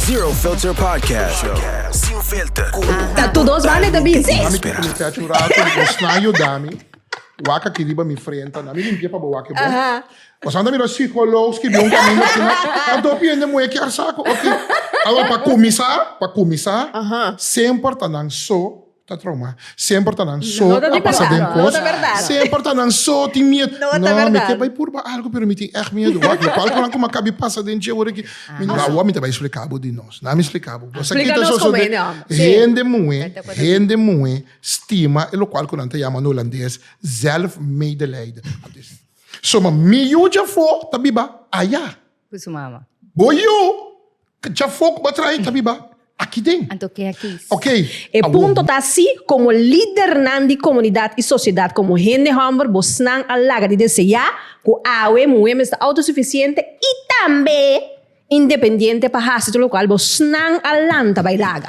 Zero Filter Podcast. Sin filter. Ta tu dos bande ta busy. Mami Ami kico mi te a chura cu mi osna yuda mi. Wak aki riba mi frente na mi limpia pa bo wak e bo. Pasan ta mira psicolo skibi un camino asina. Ta do pie den mueki ar saco. Ok. Awor pa cuminsa, pa cuminsa semper ta nan so. ta trauma. Semper ta nan so no, a pasa den cos. No verdad. Semper ta nan so tin miedo. No, no verdad. mi ke bai purba algo pero mi tin echt miedo. Wak lo cual conan como cabi pasa den che ora ki. Mi no awa mi ta bai explicabo di nos. Na mi explicabo. Cosa ki ta so so den hende moe, hende moe stima e lo cual conan ta yama na Holandes zelfmedelijden. So ma mi yu djafo ta biba aya. Cu su mama. Bo yo, dja fok bo trahe ta biba aki den. Anto ke aki. Ok. E punto ta si, como lidernan di comunidad y sociedad, como hende homber, bosnan a laga di desea cu awe muhe mester autosuficiente y tambe independiente pa haci tur locual bosnan a lanta bay laga.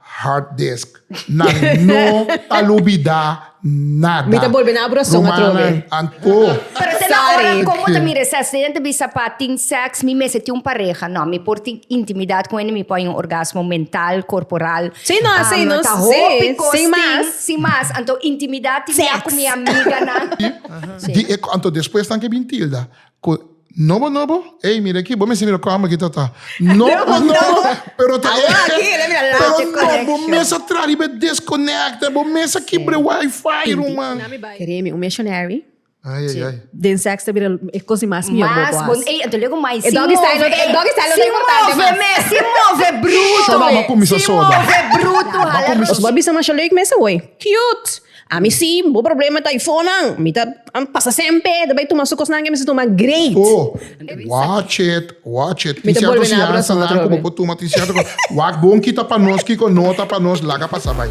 Hard disk nan no ta lubida nada. Mi ta bolbe na abrosong atrobe. Rumannan anto. Pero te na ora como ta mi reces den te bisa pa tin sex mi mester tin un pareha no mi por tin intimidad con hende mi por hay un orgasmo mental corporal Sí no así no ta hopi cos sin mas tin sin mas anto intimidad tin ya cu mi amiganan. Di e anto despues nan ke bin tilda Cu nobo nobo, ey mira aki, bo mester mira cu amber ki ta ta. Nobo nobo, pero ta e, pero no, bo mes a traha riba e desconecta, bo mes a kibra e wifi ruman. Kere mi un missionary. Ay ay ay. Den seks ta bira e cos di mas mihó bobo haci. Mas bon, ey ento luego mai sin move. E doggy style no ta importante mas. Sin move mes, sin move bruto. Solo abo a cuminsa soda. Sin move bruto hala. Nos bo a bisa masha leuk mester hoy. Cute. Ami si, bo problema ta ifonan. Mi ta pasa sempe, ta bai tuma su cosnan que mi sa tuma great. Oh, watch it, watch it. Mi ta bolbe na habla su otro hopi. Bo tuma tin cierto cos. Wak bon kita pa nos kico no ta pa nos, laga pasa bai.